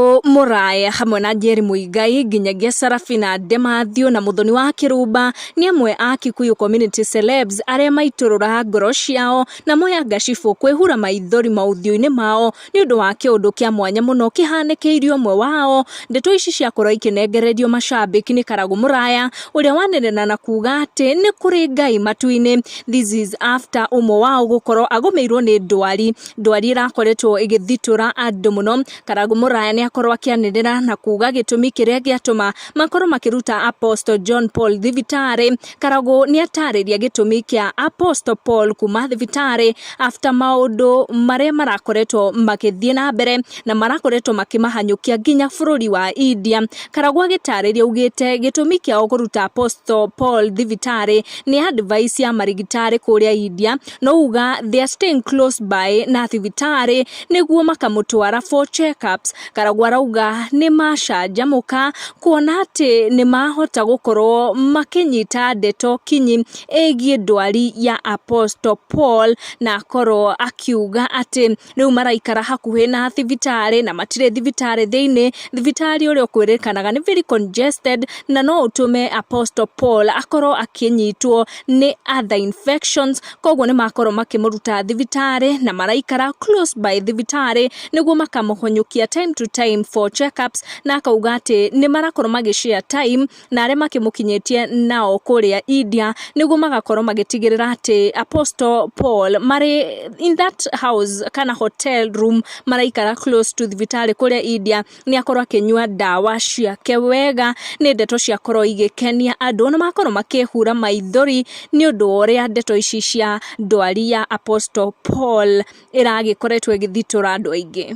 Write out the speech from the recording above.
O Mũraya hamwe na Njeri Mũigai nginyagia Sarafina Ndemathio na Mũthoni wa Kĩrumba nĩ amwe a Kikuyu Community Celebs arĩa maitũrũra ngoro ciao na moya ngacibũ kwĩhura maithori maũthiũ-inĩ mao nĩ ũndũ wa kĩũndũ kĩa mwanya mũno kĩhanĩkĩirie ũmwe wao. Ndeto ici ciakorwo ikĩnengererio macambĩki nĩ Karagũ Mũraya ũrĩa wanenena na kuga atĩ nĩ kũrĩ Ngai matu-inĩ. This is after ũmwe wao gũkorwo agũmĩirwo nĩ ndwari. Ndwari ĩrakoretwo ĩgĩthitũra andũ mũno. Karangũ Mũraya nĩ akorwo akĩanĩrĩra na kuuga gĩtũmi kĩrĩa gĩatũma makorwo makĩruta Apostle John Paul thibitarĩ. Karangũ nĩ atarĩria gĩtũmi kĩa Apostle Paul kuma thibitarĩ after maũndũ marĩa marakoretwo magĩthiĩ na mbere na marakoretwo makĩmahanyũkia nginya bũrũri wa India. Karangũ agĩtarĩria augĩte gĩtũmi kĩao kũruta Apostle Paul thibitarĩ nĩ advice ya marigitari kũrĩa India no uga they are staying close by na thibitarĩ nĩguo makamũtwara for checkups karagwa arauga nĩ macanjamũka kuona atĩ nĩ mahota gũkorwo makĩnyita ndeto kinyi ĩgiĩ ndwari ya Apostle Paul na akorwo akiuga atĩ rĩu maraikara hakuhĩ na thibitarĩ na matirĩ thibitarĩ thĩinĩ, thibitarĩ ũrĩa ũkwĩrĩkanaga nĩ very congested na no ũtũme Apostle Paul akorwo akĩnyitwo nĩ other infections, koguo nĩ makorwo makĩmũruta thibitarĩ na maraikara close by thibitarĩ nĩguo makamũhonyũkia time to time for check ups na akauga atĩ nĩ marakorwo magĩ share time. na arĩa makĩmũkinyĩtie nao kũrĩa India, nĩguo magakorwo magĩtigĩrĩra atĩ Apostle Paul marĩ in that house kana hotel room maraikara close to thibitarĩ kũrĩa India, nĩ akorwo akĩnyua ndawa ciake wega, nĩ ndeto ciakorwo igĩkenia andũ, na makorwo makĩhura maithori, nĩ ũndũ wa ũrĩa ndeto ici cia ndwari ya Apostle Paul ĩragĩkoretwo ĩgĩthitũra andũ aingĩ.